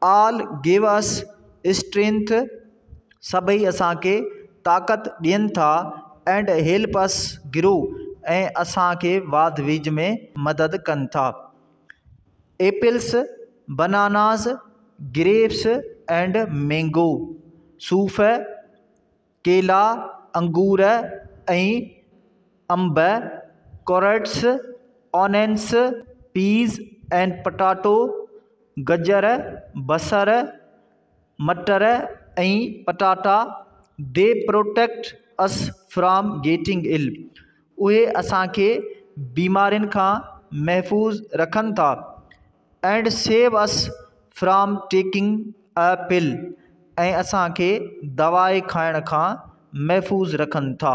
آل give us strength سڀئي اسان کي طاقت ڏين ٿا اينڊ هيلپ اس گرو ۽ اسان کي واڌ ويجهه ۾ مدد ڪن ٿا apples bananas grapes and mango صوف ڪيلا، انگور ۽ انب، carrots, onions, peas and potato, گجر، بصر، مٽر ۽ پٽاٽا، they protect us from getting ill اهي اسان کي بيمارين کان محفوظ رکن ٿا and save us from taking a پل۽ اسان کي دوائي کائڻ کان محفوظ رکن ٿا